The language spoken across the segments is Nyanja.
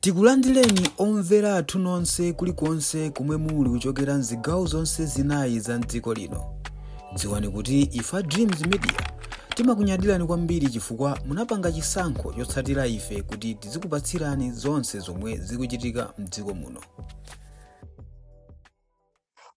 Tikulandireni omvera athu nonse kulikonse komwe muli kuchokera mzigawo zonse zinayi za mdziko lino. Dziwani kuti ife a Dreams Media timakunyadirani kwambiri chifukwa munapanga chisankho chotsatira ife kuti tizikupatsirani zonse zomwe zikuchitika mdziko muno.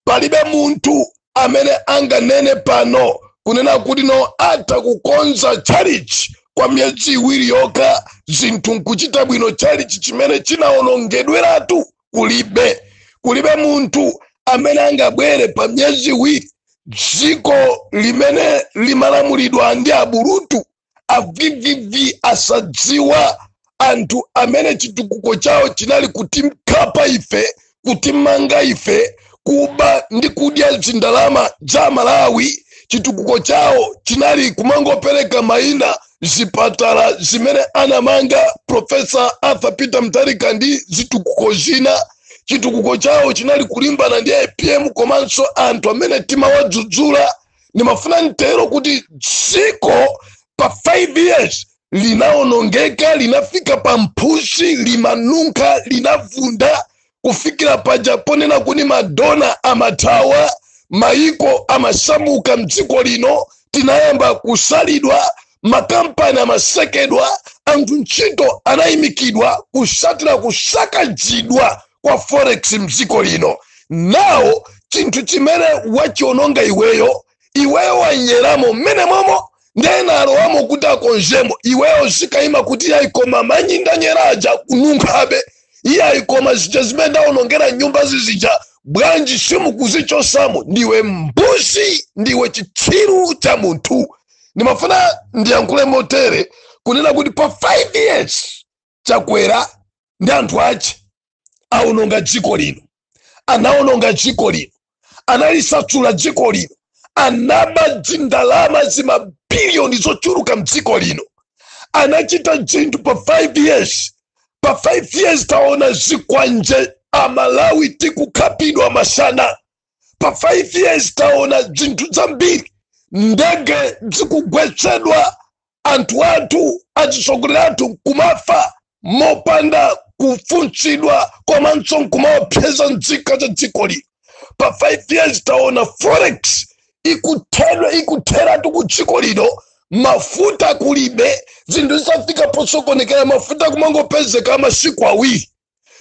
palibe munthu amene anganene pano kunena kuti no atha kukonza tchalichi kwa miyezi iwiri yokha zinthu nkuchita bwino tchalichi chimene chinawonongedweratu kulibe kulibe munthu amene angabwere pa miyezi iwiri dziko limene limalamulidwa ndi aburutu avvv asadziwa anthu amene chitukuko chawo chinali kutikhapa ife kutimanga ife kuba ndi kudya zindalama za malawi chitukuko chawo chinali kumangopereka maina zipatala zimene anamanga profesa arthur peter mutharika ndi zitukuko zina chitukuko chawo chinali kulimbana ndi apm komanso anthu amene timawadzudzula ndimafuna ntero kuti dziko pa 5 years linaonongeka linafika pa mphusi limanunkha linavunda kufikira paja ponena kuti madona amathawa maiko amasamuka mdziko lino tinayamba kusalidwa makampani amasekedwa anthu ntchito anayimikidwa kusatira kusakazidwa kwa forex mdziko lino now chinthu chimene wachiononga iweyo iweyo wanyeramo mmenemomo nde ena alowamo kuti akonzemo iweyo uzikayima kuti iyayi koma manyi ndanyera aja akununkhabe iyayi koma zija zimene ndaonongera nyumba zizija bwanji simukuzichosamo ndiwe mbuzi ndiwe chitsiru cha munthu ndimafuna ndiyankhule motere kunena kuti pa 5 years chakwera ndi anthu ache aononga dziko lino anaononga dziko lino analisatsula dziko lino anaba dzindalama zimabiliyoni zochuluka mdziko lino anachita dzinthu pa 5 years pa 5 years taona zikwanje amalawi tikukhapidwa masana pa 5 years taona zinthu zambiri ndege zikugwetsedwa anthu athu atsogoleri athu nkumafa mopanda kufunsidwa komanso nkumaopseza nzika za dziko lino pa 5 years taona forex ikuthedwa ikutheratu ku dziko lino mafuta kulibe zinthu zitafika posokonekera mafuta kumangopezeka masiku awiri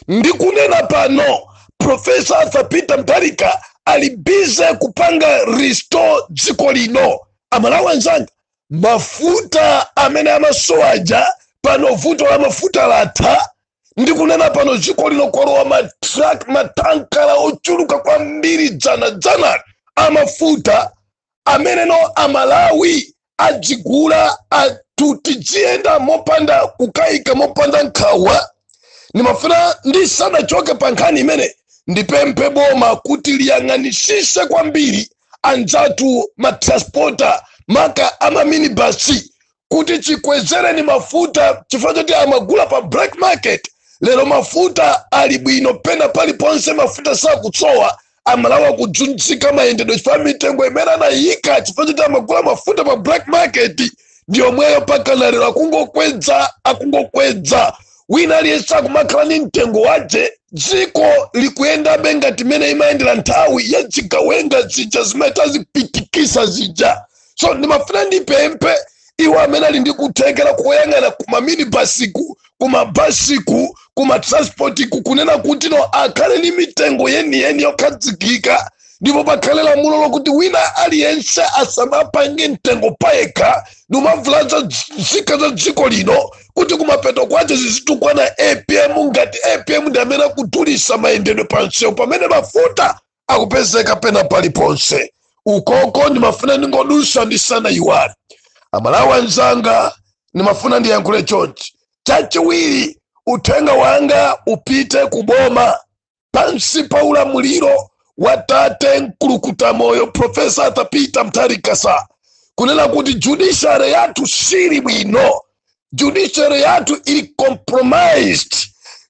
ndikunena pano profesa arthur peter mutharika ali bize kupanga restore dziko lino amalawi anzanga mafuta amene amasowaja pano vuto la mafuta latha ndikunena pano dziko lino kwalowa matrak matankala ochuluka kwambiri dzana dzana amafuta ameneno amalawi adzigula kuti tidziyenda mopanda kukayika mopanda nkhawa ndimafuna ndisanachoke pa nkhani imene ndipemphe boma kuti liyang'anisise kwambiri anzathu matransporta maka amaminibasi kuti chikwezereni mafuta chifukwa choti amagula pa black market lero mafuta ali bwino pena paliponse mafuta sakutsowa amalawi akudzunzika mayendedwe chifukwa mitengo imene anayika chifukwa choti amagula mafuta pa black market ndiyomweyo pakana lero akungokwedza akungokwedza wina aliyense akumakhala ni mtengo wace dziko likuyendabe ngati mmene imayendera nthawi ya zigawenga zija zimene tazipitikisa zija so ndimafuna ndipemphe iwo amene ali ndi kuthekera koyang'ana kumaminibasiku kumabasiku kumatransportiku kunena kuti no akhale ndi mitengo yeniyeni yokhazikika ndipo pakhale lamulo lokuti wina aliyense asamapange mtengo payekha nkumavulaza nzika za dziko lino kuti kumapeto kwace zizitukwanitsa apm ngati apm ndi amene akudulisa mayendedwe pansewu pamene mafuta akupezeka pena paliponse ukoko ndimafuna ndingodusa ndisanaiwale amalawi anzanga ndimafuna ndiyankhule chonchi chachiwiri uthenga wanga upite kuboma pansi pa ulamuliro wa tate mkulukuta moyo profesa arthur peter mutharika sir kunena kuti judiciary yathu siili bwino judiciary yathu ili compromised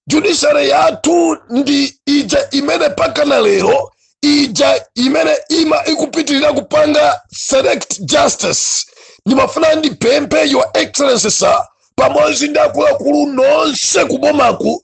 judiciary yathu ndi ija imene pakana lero ija imene ima ikupitirira kupanga select justice ndimafuna ndipemphe your excellency sir pamodzi ndi akuluakulu nonse kubomaku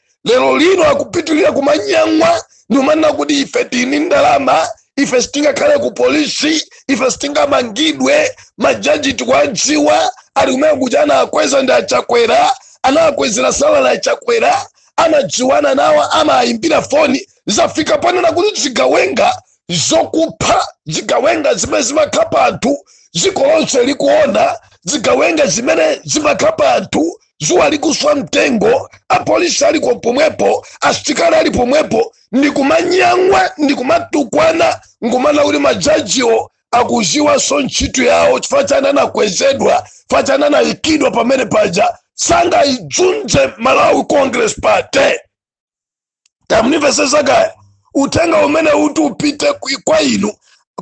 lero lino akupitirira kumanyang'wa ndikumanena kuti ife tili ni ndalama ife sitingakhale ku polisi ife sitingamangidwe majaji tikuwadziwa ali kumene kuti anakwezedwa ndi achakwera anawakwezera salary achakwera amadziwana nawo amayimbira foni zafika ponena kuti zigawenga zokupha zigawenga zimene zimakhapa anthu dziko lonse likuona zigawenga zimene zimakhapa anthu dzuwa likuswa mtengo apolisi aliko pomwepo asitikali ali pomwepo ndikumanyang'wa ndikumatukwana nkumanena kuti majajiwo akuziwanso ntchito yawo chifukwa chani anakwezedwa chifukwa chani anayikidwa pamenepaja sangaidzunze malawi congress party tamunimvesesa kaya uthenga umene uti upite ku- kwa inu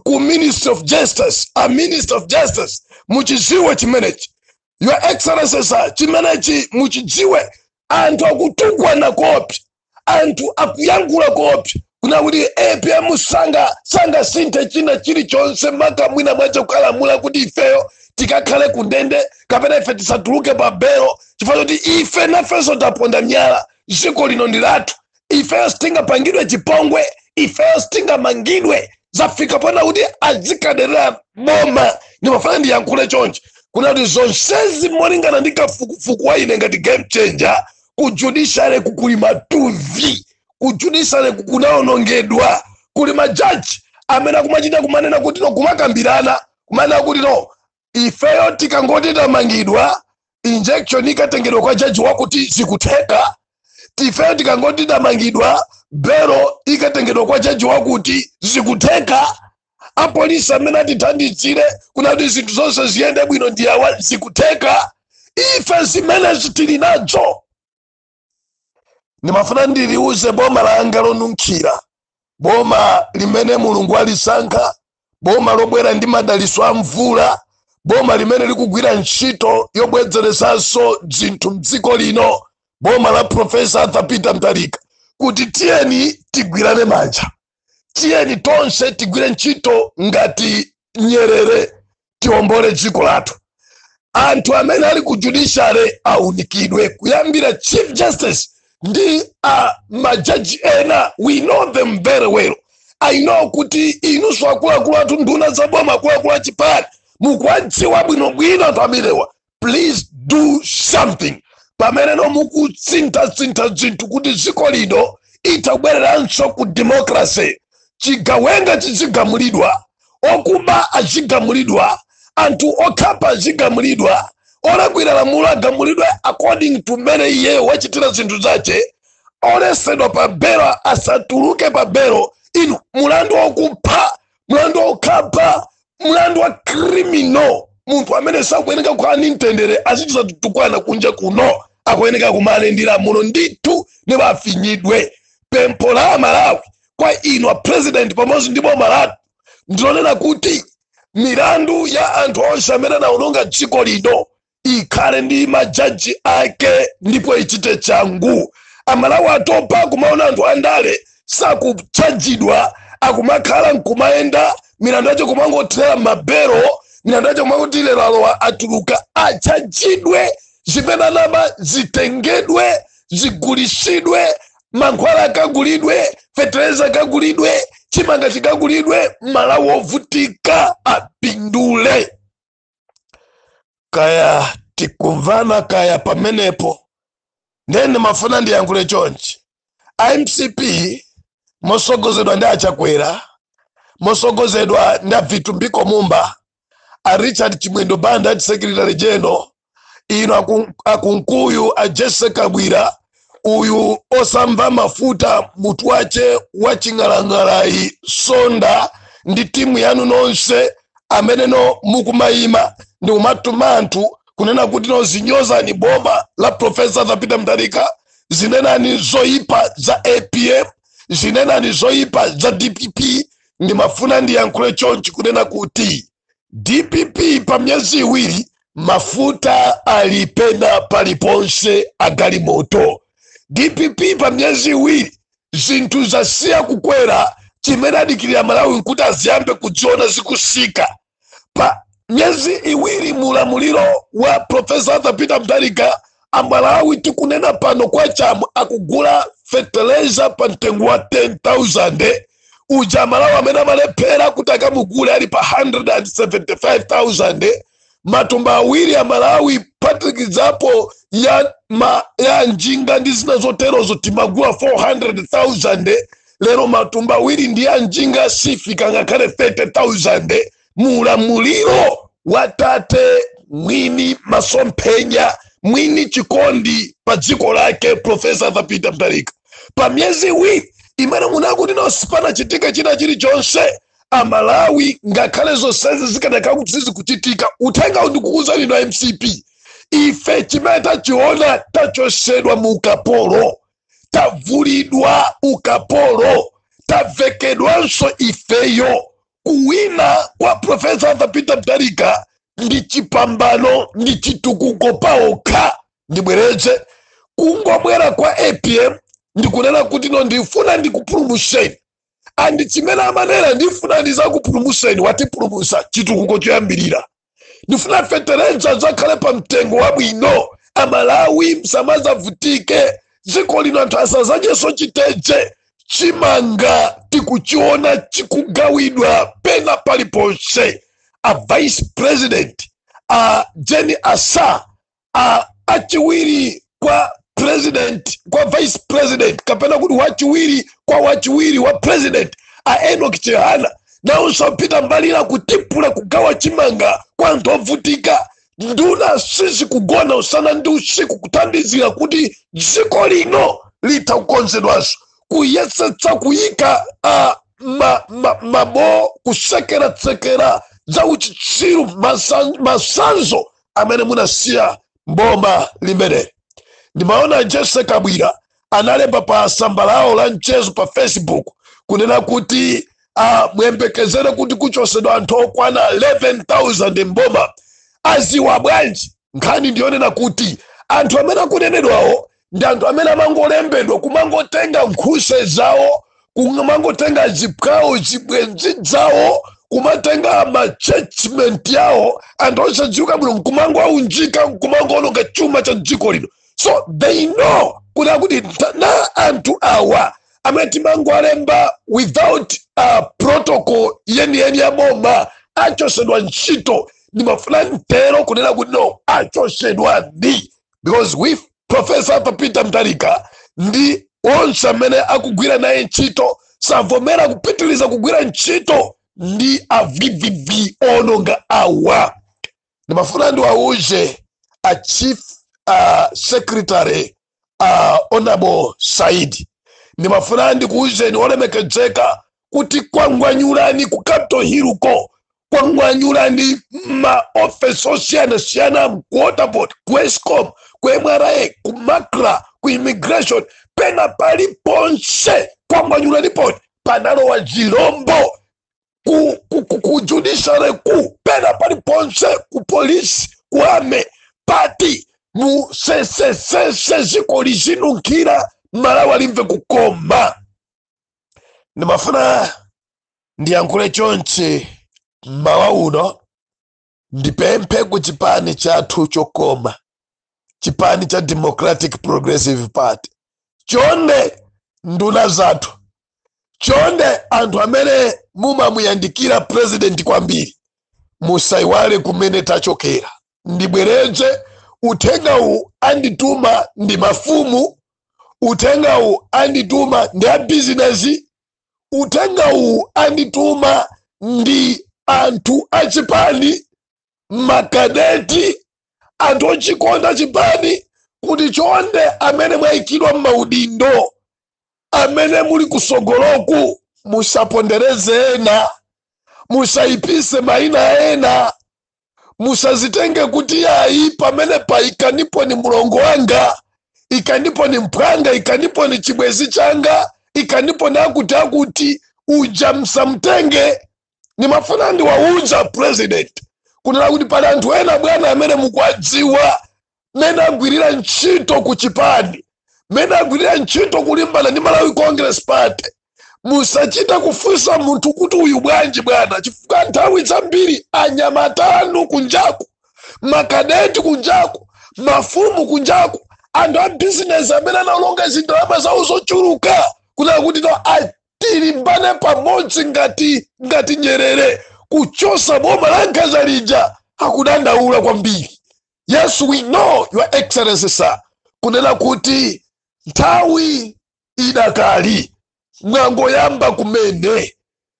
ku ministry of justice a minister of justice muchidziwe chimenechi your excellency sir chimenechi muchidziwe anthu akutukwana koopsa anthu akuyankhula koopsa kunena kuti apm sangasinthe china chilichonse maka mwinamwache ukalamula kuti ifeyo tikakhale kundende kapena ife tisatuluke pa belo chifukwa choti ife nafenso taponda miyala dziko lino ndi lathu ifeyo sitingapangidwe chipongwe ifeyo sitingamangidwe zafika ponena kuti azikaderera boma ndimafuna ndiyankhule chonchi kunena kuti zonsezi molingana ndi kafukufuku wa ine ngati game changer ku judiciary kukuli matuvi ku judiciary kukunaonongedwa kuli majaji amene akumachita kumanena kuti no kumakambirana kumanena kuti no ifeyo tikangoti tamangidwa injunction ikatengedwa kwa jaji wakuti zikutheka ifeyo tikangoti tamangidwa belo ikatengedwa kwa jaji wakuti zikutheka apolisi amene atithandizire kunena kuti zinthu zonse ziyende bwino ndi awa zikutheka ife zimenezi tili nazo ndimafuna ndiliuze boma langa lonunkhira boma limene mulungu alisankha boma lobwera ndi madaliso a mvula boma limene likugwira ntchito yobwezeresanso zinthu mdziko lino boma la profesa arthur peter mutharika kuti tiyeni tigwirane manja tiyeni tonse tigwire ntchito ngati nyerere tiombole dziko lathu anthu amene ali ku judiciary aunikidwe kuyambira chief justice ndi uh, majaji ena we know them very well i know kuti inunso akuluakulu athu nduna za boma akuluakulu achipani mukuwadziwa bwinobwino anthu amenewa please do something pameneno mukutsinthatsintha zinthu kuti dziko lino litabwereranso ku democracy chigawenga chizigamulidwa okuba azigamulidwa anthu okhapa azigamulidwa olakwira lamulo agamulidwe according to mmene iyeyo wachitira zinthu zache olesedwa pa belo asatuluke pa belo inu mulandu wokupha mlandu wokhapa mlandu wa criminal munthu amene sakuyeneka kukhala ndi mtendere azichita kutukwana kunja kuno akuyeneka kumana ndi lamulo ndithu ndipo afinyidwe pempho la amalawi kwa inu a president pamodzi ndi boma lanu ndilonena kuti milandu ya anthu onse amene anaononga dziko lino ikhale ndi majaji ake ndipo ichite changu amalawi atopa kumaona anthu andale sakutchajidwa akumakhala nkumayenda milandu yake kumangothera m'mabelo milandu yake kumangokuti lero alowa atuluka atchajidwe zimene anaba zitengedwe zigulisidwe mankhwala akagulidwe fetereza akagulidwe chimanga chikagulidwe malawi ovutika apindule kaya tikumvana kaya pamenepo ndiye ndimafuna ndiyankhule chonchi a mcp mosogozedwa ndi a chakwera mosogozedwa ndi a vitumbiko mumba a richard chimwendo banda ati secretary general inu aku- a kunkuyu a jesse kabwila uyu osamva mafuta mutu wake wa ching'alang'ala yi sonda ndi timu yanu nonse amene no mukumayima ndi kumatuma anthu kunena kuti no zinyozani boma la profesa arthur peter mutharika zinenani zoyipa za apm zinenani zoyipa za dpp ndimafuna ndiyankhule chonchi kunena kuti dpp pa miyezi iwiri mafuta ali pena paliponse a galimoto dpp pa miyezi iwiri zinthu zasiya kukwera chimene adikirira amalawi nkuti aziyambe kuziona zikutsika pa miyezi iwiri mu ulamuliro wa profesa arthur peter mutharika amalawi tikunena pano kwacha amwene akugula feteleza pa mtengo wa 10000 uja amalawi amene mmalephera kuti akamugule ali pa 175000 matumba awiri amalawi phatikizapo ya, ma, ya njinga ndi zina zoterozo timagula 400000 lero matumba awiri ndi ya njinga sifika ngakhale 30000 mu ulamuliro wa tate mwini masomphenya mwini chikondi pa dziko lake profesa arthur peter mutharika pa miyezi iwiri imene munakuti no sipanachitike china chilichonse amalawi ngakhale zonsezi zikanakhala kuti sizikuchitika uthenga ndikukuuzani inu a mcp ife chimene tachiona tachotsedwa mu ukapolo tavulidwa ukapolo tavekedwanso ifeyo kuwina kwa profesa arthur peter mutharika ndi chipambano ndi chitukuko paokha ndibwereze kungobwera kwa apm ndikunena kuti no ndifuna ndikupulumutseni and chimene amanena ndifuna ndizakupulumutseni watipulumutsa chitukuko choyambirira ndifuna fetereza adzakhale pa mtengo wabwino amalawi msamazavutike dziko lino anthu asazadyeso chiteje chimanga tikuchiona chikugawidwa pena paliponse a vice president a jane ansah a achiwiri kwa president kwa vice president kapena kuti wachiwiri kwa wachiwiri wa president a enok chihana nawonso apita mbali la kutipula kugawa chimanga kwa anthu ovutika nduna sizikugona usana ndi usiku kuthandizira kuti dziko lino lithe kukonzedwanso kuyesetsa kuyika a ma, ma, mabo kusekeratsekera za uchitsiru masan- masanzo amene munasiya mboma limeneli ndimaona jessie kabwila analemba pa samba lawo la mchezo pa facebook kunena kuti ah, muyembekezere kuti kuchosedwa anthu okwana 11000 mboma aziwa bwanji nkhani ndiyonena kuti anthu amene akunenedwawo ndi anthu amene amangolembedwa kumangotenga nkhuse zawo kumangotenga aziphwawo zibwenzi zawo kumatenga machurchmate yawo anthu osadziwika bwino nkumangoaunjika nkumangoononga chuma cha dziko lino so they know kuti akuti ta- na anthu awa amene timangoalemba without uh, protocol yeniyeni ya boma achosedwa ntchito ndimafuna nditero kunena kuti no achosedwa ndi because we profesa arthur peter mutharika ndi onse amene akugwira naye ntchito savomera kupitiriza kugwira ntchito ndi a vvv ononga awa ndimafuna ndiwauze a chief uh, secretary uh, honorable saidi ndimafuna ndikuuzeni olemekedzeka kuti kwangwanyulani ku capital hill ko kwangwanyulani ma office osiyana siyana ku waterboard ku escom ku mra ku macra ku immigration pena pali ponse kwangwanyulani poti panalowa zilombo ku, ku, ku, ku judiciary ku pena pali ponse ku polisi ku army pati musesesese ziko lizinunkhira amalawi alimve kukoma ndimafuna ndiyankhule chonchi mmawa uno ndipemphe ku chipani chathu chokoma chipani cha democratic progressive party chonde nduna zathu chonde anthu amene mumamuyandikira president kwambiri musaiwale kumene tachokera ndibwereze uthengawu andituma ndi mafumu uthengawu andituma ndi abizinesi uthengawu andituma ndi anthu achipani makadeti anthu ochikonda chipani kuti chonde amene mwayikidwa m'maudindo amene muli kusogoloku musapondereze ena musayipise mayina ena musazitenge kuti yayi pamenepa ikanipo ni mulongo wanga ikanipo ni mphwanga ikanipo ni chibwezi changa ikanipo ni akuti akuti uja msamtenge nimafuna ndiwauza president kunena kuti pali anthu ena bwana amene mukwadziwa mmene agwirira ntchito ku chipani mmene agwirira ntchito kulimbana ndi malawi congress party musachita kufunsa munthu kuti uyu bwanji bwana chifukwa nthawi zambiri anyamata anu kunjaku makadeti kunjaku mafumu kunjaku anthu a bizinesi amene analonga zindalama zawo zochuluka kunena kuti no atilimbane pamodzi ngati nyerere kuchosa boma la nkhanza lija akudandaula kwambiri yes we know your excellency sir kunena kuti nthawi idakali mwangoyamba kumene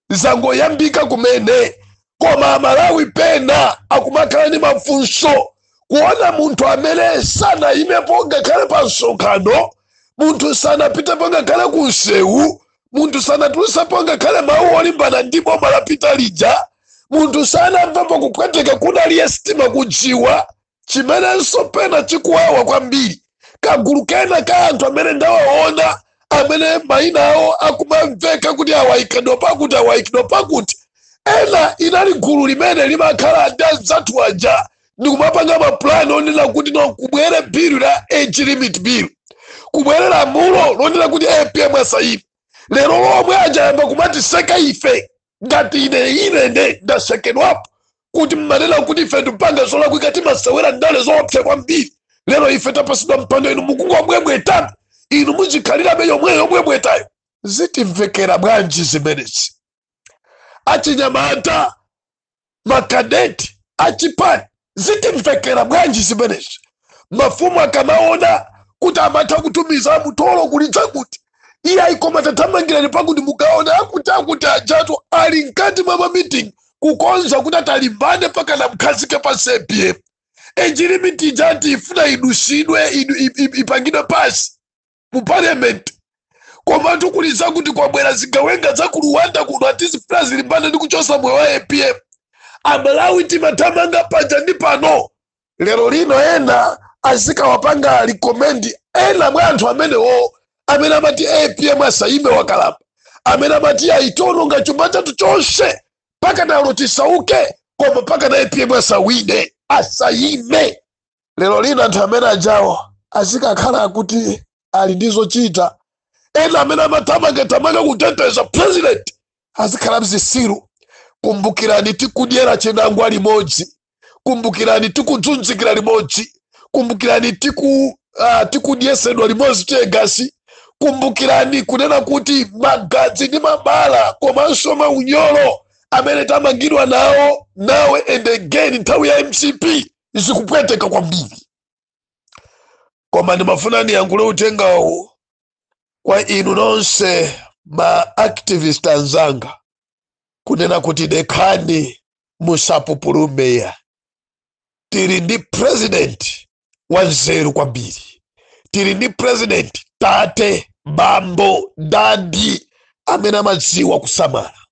zangoyambika kumene koma amalawi pena akumakhala ndi mafunso kuona munthu amene sanayimepo ngakhale pa msonkhano munthu sanapitepo ngakhale ku msewu munthu sanatulusapo ngakhale mawu olimbana ndi boma la pita lija munthu sanamvapo kupweteka kunali sitima kujiwa chimenenso pena chikuwawa kwambiri kagulu kena ka anthu amene ndawaona amene mayina awo akumamveka kuti aa ayikidwa pakuti aa ayikidwa pakuti ena inali gulu limene limakhala ndi anzathu aja ndikumapanga mapulani onena kuti no kubwere bilu la age limit bill kubwere lamulo lonena kuti apm asayime lero lomwe ajayamba kumatiseka ife ngati ine ine nde ndasekedwapo kuti mmanena kuti ife tipanga zolakwika timasewera ndale zoopsa kwambiri lero ife tapasidwa mpando inu mukungobwebweta inu muzikhalirabe yomweyo yobwebwetayo zitimvekera bwanji zimenezi achinyamata makadeti achipani zitimvekera bwanji zimenezi mafumu akamaona kuti amatha kutumiza mutolo kulidza kuti iye ayikoma tathamangirani pakuti mukaona akuti akuti ajatu ali mkati mwa mamitingi kukonza kuti atalimbane paka namkhazika pasi apm age limit ija tifuna idusidwe idu- i- i- ipangidwe pasi mu parliament komatu kuli zakuti kwabwera zigawenga za ku rwanda kuno ati zikufuna kulimbana ndi kuchosa moyo wa apm amalawi timathamanga paja ndi pano lero lino ena azikawapanga recommend ena mwa anthu amenewo amene amati apm asayime wakalamba amene amati ationongera chuma chathu chonse mpaka nalo tisauke koma mpaka na apm asawine asayime lero lino anthu amene ajawo azikakhala akuti ali ndi zochita ena amene amathamangathamanga kuteteza president azikhala zitsiru kumbukirani tikudyera chinangwa limodzi kumbukirani tikudzunzikira limodzi kumbukirani tiku uh, tikudyetsedwa limodzi tegasi kumbukirani kunena kuti magazi ndi mabala komanso maunyolo amene tamangidwa nawo now and again nthawi ya mcp zikupweteka kwambiri koma ndimafuna ndiyankhule uthengawu kwa inu nonse ma activist anzanga kunena kuti dekhani musapupulume ya tili ndi president wanzeru kwambiri tili ndi president tate bambo dadi amene amadziwa kusamala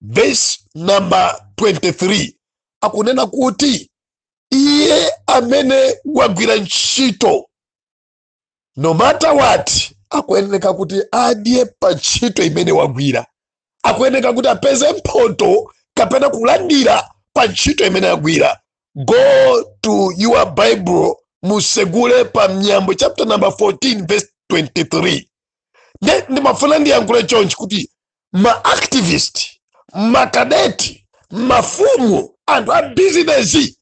verse number 23 akunena kuti iye amene wagwira ntchito no matter what akuyeneka kuti adye pa ntchito imene wagwira akuyeneka kuti apeze mphoto kapena kulandira pa ntchito imene agwira go to your bible musegule pa miyambo chapter number 14 verse 23 Nde- ndimafuna ndiyankhule chonchi kuti ma activist makadeti mafumu anthu a bizinesi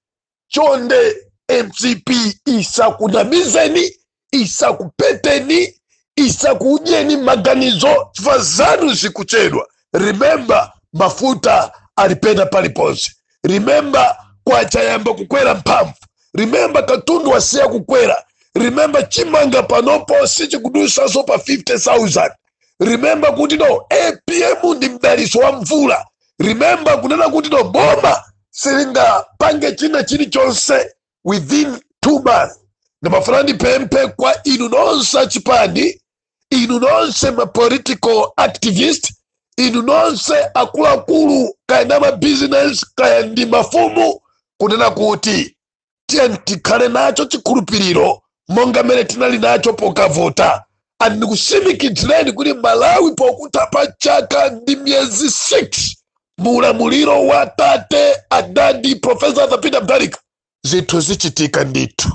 chonde mcp isakunamizeni isakupeteni isakudyeni maganizo chifukwa zanu zikuchedwa remember mafuta alipo pena paliponse remember kwacha yayamba kukwera mphamvu remember katundu wasiya kukwera remember chimanga panopo sichikudutsanso pa 50000 remember kuti no apm ndi mdalitso wa mvula remember kunena kuti no boma silingapange china chilichonse within two months ndimafuna ndipemphe kwa inu nonse achipani inu nonse ma political activist inu nonse akuluakulu kaya ndi a mabizinesi kaya ndi mafumu kunena kuti tiyeni tikhale nacho chikhulupiriro monga mmene tinali nacho pokavota and ndikusimikizireni kuti malawi pokutha pa chaka ndi miyezi 6 mu ulamuliro wa tate adadi profesa arthur peter mutharika zinthu zichitika ndithu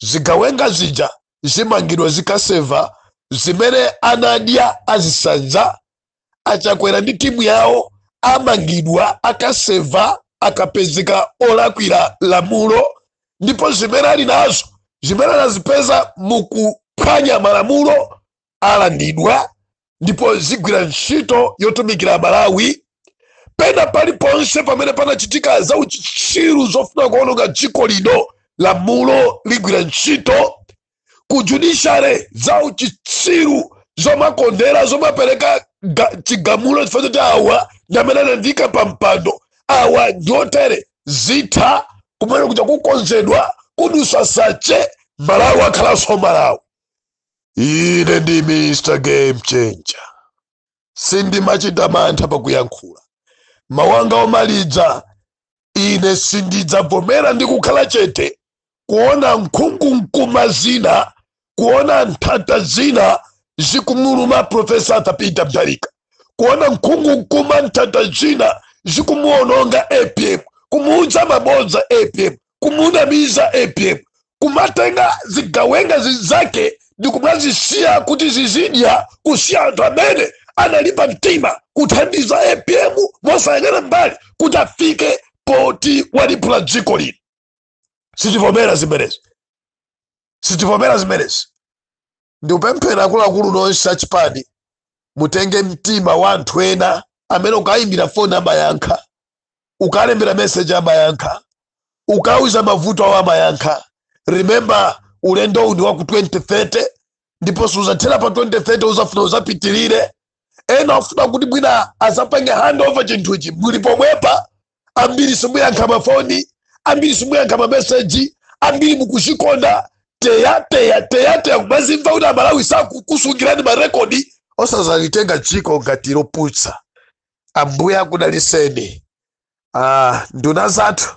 zigawenga zija zimangidwa zikaseva zimene anadya azisanza achakwera ndi timu yawo amangidwa akaseva akapezeka olakwira lamulo ndipo zimene ali nazo zimene anazipeza mukuphwanya malamulo alandidwa ndipo zigwira ntchito yotumikira malawi pena paliponse pamene panachitika za uchitsiru zofuna kuononga dziko lino lamulo ligwira ntchito ku judiciary za uchitsiru zomakondera zomapereka chigamulo chifukwa choti awa ndi amene anandiyika pa mpando awa ndi otere zitha kumene kuja kukonzedwa kudusa sache malawi akhalanso malawi ine ndi mr game changer sindimachita mantha pakuyankhula mawu anga omaliza ine sindidzavomera ndi kukhala chete kuona nkhungumkuma zina kuona nthata zina zikumuluma profesa arthur peter mtharika kuona nkhungumkuma nthata zina zikumuononga apm kumuudza mabodza apm kumunamiza apm kumatenga zigawenga zake ndikumazisiya kuti zizidya kusiya anthu amene analimba mtima kuthandiza apm mosayang'ana mbali kuti afike poti waliphula dziko lino sitivomera zimenezi sitivomera zimenezi ndikupempha akuluakulu nonse achipani mutenge mtima wa anthu ena amene ukayimbira foni amayankha ukalembera meseji amayankha ukauza mavuto awo amayankha remember ulendo uwu ndi waku 2030 ndipo suzathera pa 2030 uzafuna uzapitirire ena ufuna kuti mwina azapange handover chinthuchi muli pomwepa ambiri simuyankha mafoni ambiri simuyankha mameseji ambiri mukuzikonda teyateya teyateya kumazimva kuti amalawi akukusungirani marekodi osazalitenga dziko ngati lopusa ambuye akudaliseni ah, nduna zathu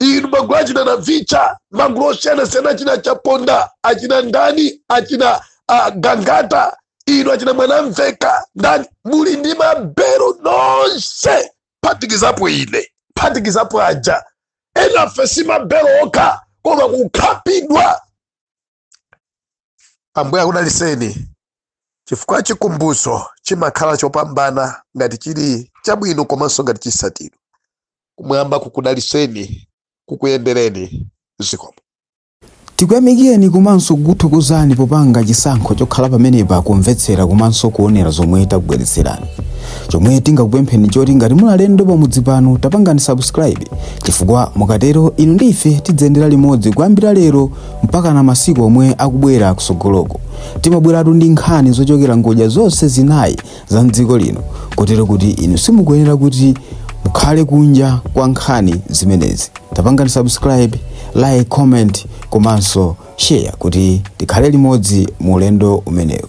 inu magulu achina navicha magulu osiyanasiyana achina chaponda achina ndani achina gangata inu achina mwanamveka ndani muli ndi mabelo nonse phatikizapo ine phatikizapo aja enafe si mabelo okha koma kukhapidwa ambuye akudaliseni chifukwa chikumbutso chimakhala chopambana ngati chili chabwino komanso ngati chisatiro kumwamba kukudaliseni kukuyendereni zikomo tikuyamikireni komanso kukuthokozani popanga chisankho chokhala pamenepa kumvetsera komanso kuonera zomwe takubweretserani chomwe tingakupempheni choti ngati muli alendo pamudzi pano tapangani subscribe chifukwa mukatero inu ndi ife tidziyendera limodzi kuyambira lero mpaka na masiku omwe akubwera kusogoloko timabweratu ndi nkhani zochokera ngodya zonse zinayi za mdziko lino kotero kuti inu simukuyenera kuti mukhale kunja kwa nkhani zimenezi tapangani subscribe like comment komanso share kuti tikhale limodzi mu ulendo umenewu